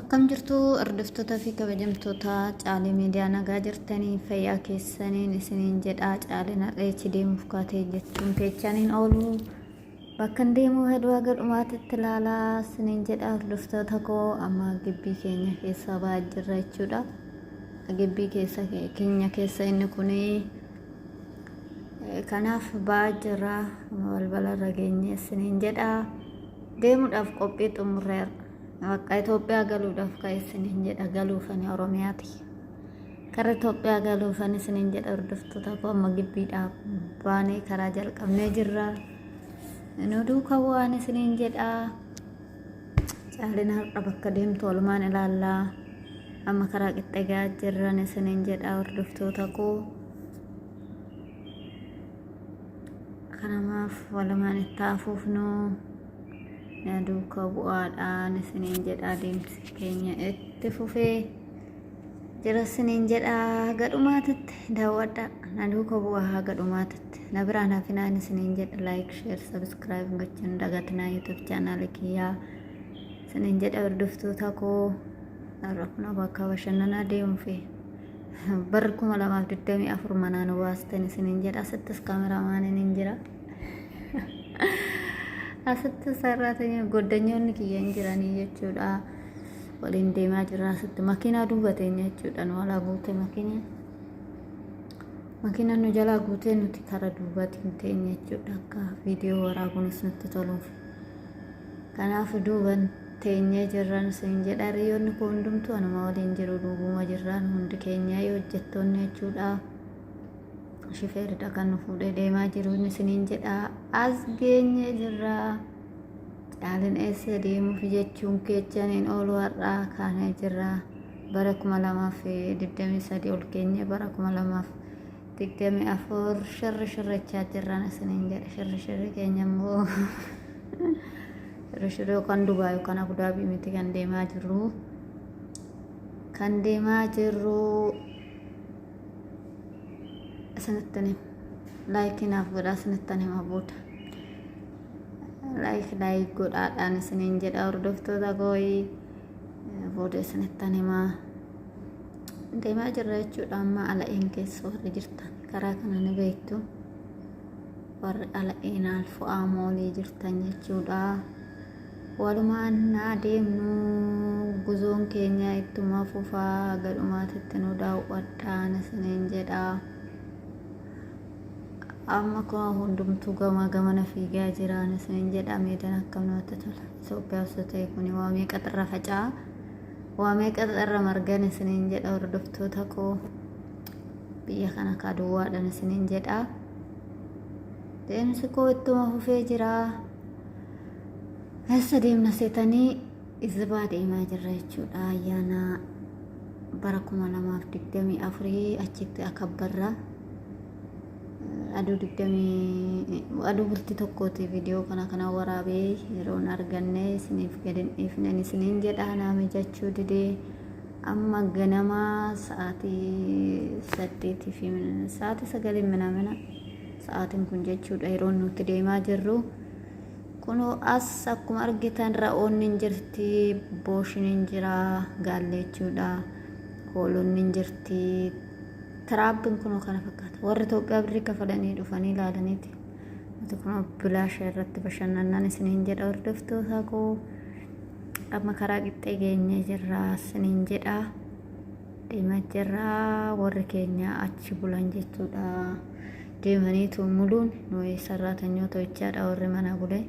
Akkam jirtu hordoftoota fi kabajamtoota caalee miidiyaa nagaa jirtanii fayyaa keessaniin isiniin jedhaa caaleen har'eechi deemuuf kaatee jechuun keechaniin oolu Bakkan deemuu heduu haga dhumaatitti laalaa sinin jedha hordoftoota koo amma gibbii keenya keessaa ba'aa jirra jechuudha. Gibbii keessa keenya keessa inni kuni kanaaf ba'aa jirra balbala irra geenye sinin jedha deemuudhaaf qophii xumurreera. Bakka Itoophiyaa galuudhaaf ka'e sinin jedha galuufani Oromiyaati. Karra Itoophiyaa galuufan isiniin jedha hordoftoota koo amma gibbiidhaa baanee karaa jalqabnee jirra. Nu duuka waan isiniin jedha. Caalina har'a bakka deemtu walumaan ilaallaa. Amma karaa qixxee gahaa jirran isiniin jedha hordoftoota koo. Kanamaaf walumaan itti hafuufnu duuka bu'aadhaan isiniin jedha adeemsi keenya itti fufee. jira siniin jedha haga dhumaatitti daawwadha na duuka bu'aa haga dhumaatitti na biraan hafinaan isiniin jedha laayik sheer sabiskiraayib gochuun dagatinaa yuutuub chaanaali kiyyaa isiniin jedha hordoftoota koo rakna bakka bashannanaa deemuufi bar kuma lamaaf digdamii afur manaan waastan isiniin jedha asittis kaameraamaaniin hin jira asitti sarraatanii goddanyoonni kiyya hin jiranii jechuudha. waliin deemaa jirra asitti makiinaa duuba teenya jechuudha nu alaa guutee makiinaan makiinaan nu jalaa guutee nuti kara duubatiin teenya jechuudha akka viidiyoo waraabuunis nutti toluuf kanaaf duuban teenyee jirran siin jedha hiriyoonni koo hundumtuu anuma waliin jiru duubuma jirraan hundi keenyaa yoo hojjettoonni jechuudha shifeeridha kan nu fuudhee deemaa jiru isiniin jedha as geenyee jirra. Caalin eessa deemuuf jechuun keechan hin oolu har'aa kaanee jirra. Bara 2023 ol keenye bara 2024 shirri shirrachaa jirraan isiniin jedha. Shirri shirri keenya immoo shirri shirri yookaan Dubaay yookaan Abudaabii miti kan deemaa jirru. Kan deemaa jirru isinitti hima. Laayikii naaf godhaa isinitti hima booda. laayik laayik godhaadhaan isiniin jedha hordoftoota gooyi booda isinittan himaa deemaa jirra jechuudha amma ala'een keessa warri jirtan karaa kana ni beektu warri ala'een alfu'aa moolii jirtan jechuudha walumaan naa deemnu guzoon keenya ittuma fufaa gadhumaatitti nu daawwadhaan isiniin jedha. amma koo hundumtuu gamaa gamana fiigaa jiraan isiniin jedha meedan akkam namatti tola Itoophiyaa osoo ta'e kun waa meeqa xirra faca'a waa meeqa xirra margan isiniin jedha hordoftoota koo biyya kana kaa duwwaadhan isiniin jedha deemsi koo ittuma fufee jira eessa deemna seetanii Izbaa deemaa jirra jechuudha ayyaana bara 2024 achitti akabbarra aduu 20 aduu bulti tokkooti viidiyoo kana kana waraabee yeroon arganne isiniif gadin dhiifnen isiniin jedha naame jechuu didee amma ganama sa'aatii saddeetii fi sa'aatii sagalii minamina sa'aatiin kun jechuudha yeroon nuti deemaa jirru. Kunoo as akkuma argitan ra'oonni hin jirti, booshin hin jira, gaallee jechuudha, hoolonni hin jirti, tiraabbiin kunoo kana fakkaata. Warri Itoophiyaa birrii kafalanii dhufanii ilaalaniiti. Nuti kunoo bilaasha irratti bashannannaan isiniin jedha hordoftootaa koo. Amma karaa qixxee geenyee jirra isiniin jedha. deemaa jirra warri keenya achi bulan jechuudha deemaniitu muluun nuyi sarraatanyoota jechaadha warri mana bule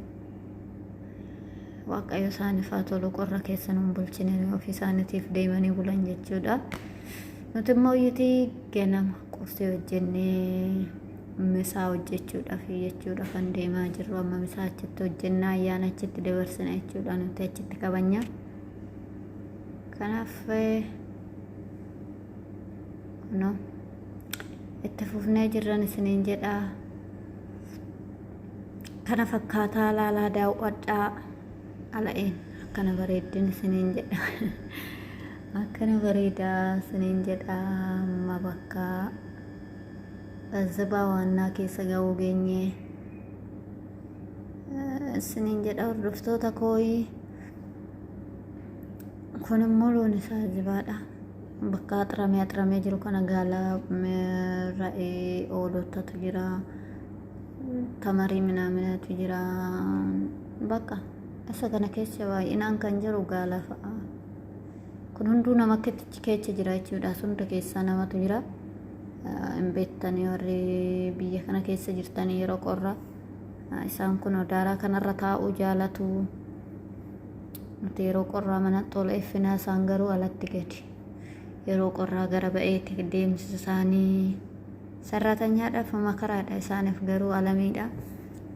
waaqayyo isaaniif haa tolu qorra keessa nuun bulchine nuyi ofii isaaniitiif deemanii bulan jechuudha nuti immoo iyyiti ganama qursii hojjennee misaa hojjechuudhaaf jechuudha kan deemaa jirru amma misaa achitti hojjennaa ayyaana achitti dabarsina jechuudha nuti achitti kabanya. Kanaaf kuno itti fufnee jirran isiniin jedhaa kana fakkaataa laalaa daawwadhaa ala'een akkana bareeddin isiniin jedha akkana bareedaa isiniin jedha amma bakka bazzabaa waannaa keessa ga'uu geenye isiniin jedha hordoftoota kooyii kun immoo loon isaa jibaadha bakka axramee axramee jiru kana gaala ra'ee oolotatu jira tamarii minaaminatu jira bakka isa kana keessa baay'inaan kan jiru gaala fa'a kun hunduu nama akkatti keessa jira jechuudha hunda keessaa namatu jira hin beektanii warri biyya kana keessa jirtanii yeroo qorraa isaan kun daaraa kanarra taa'uu jaalatu nuti yeroo qorraa mana tola effinaa isaan garuu alatti gadi yeroo qorraa gara ba'eetti deemsi isaanii sarraatanyaadhaaf makaraadha isaaniif garuu alamiidha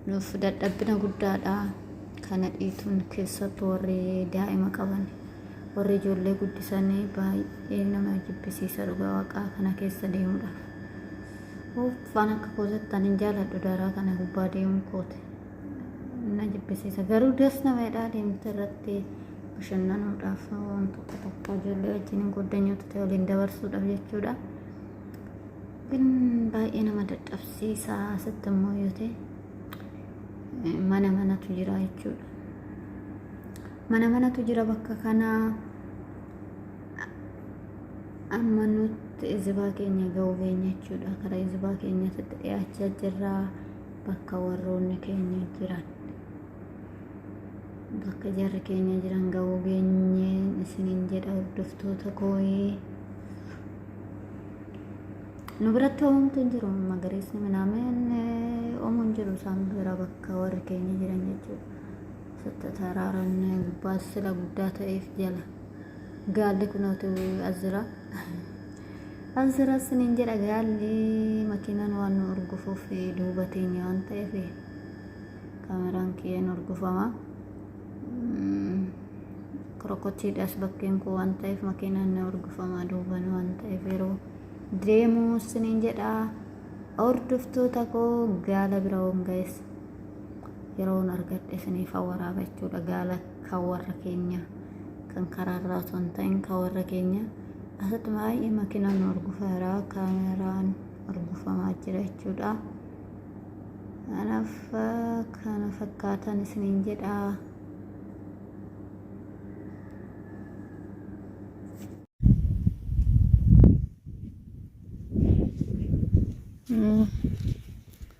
nuuf dadhabbina guddaadha kana dhiituun keessattu warri daa'ima qaban warri ijoollee guddisanii baay'ee nama jibbisiisa dhugaa waaqaa kana keessa deemuudhaaf Uuff waan akka koo jettan hin jaaladhu daaraa kana gubbaa deemuun kooti na jibbisiisa garuu das nama jedhaa deemte irratti bashannanuudhaaf waan tokko tokko ijoollee wajjin hin goddanyoota ta'e waliin dabarsuudhaaf jechuudha. Kun baay'ee nama dadhabsiisa asitti immoo yoo ta'e mana manatu jira jechuudha. Mana manatu jira bakka kanaa. amma nutti izibaa keenya ga'uu keenya jechuudha kara izibaa keenyatti dhiyaachaa jirra bakka warroonni keenya jiran bakka jarri keenya jiran ga'uu geenyeen isiniin jedha hordoftoota kooyee nu biratti hoomtu hin jiru magariisni minaameen oomu hin jiru isaan bira bakka warri keenya jiran jechuudha Tataraaraan gubbaa sila guddaa ta'eef jala. Gaalli kunootu as jira. As jira siniin jedha gaalli makiinaan waan nu horgufuuf duuba teenya waan ta'eef kaameraan kiyyeen horgufama. Krokochiidhaas bakkeen koo waan ta'eef makiinaan na horgufama duuban waan ta'eef yeroo deemu siniin jedha hordoftoota koo gaala bira waan ga'eessa. yeroon argadhe isiniif waraaba jechuudha gaala kan warra keenya kan karaarraa osoo hin ta'in kan warra keenya asitti baay'ee makinaan horgufeera kaameraan horgufamaa jira jechuudha kanaaf kana fakkaatan isiniin jedha Mm.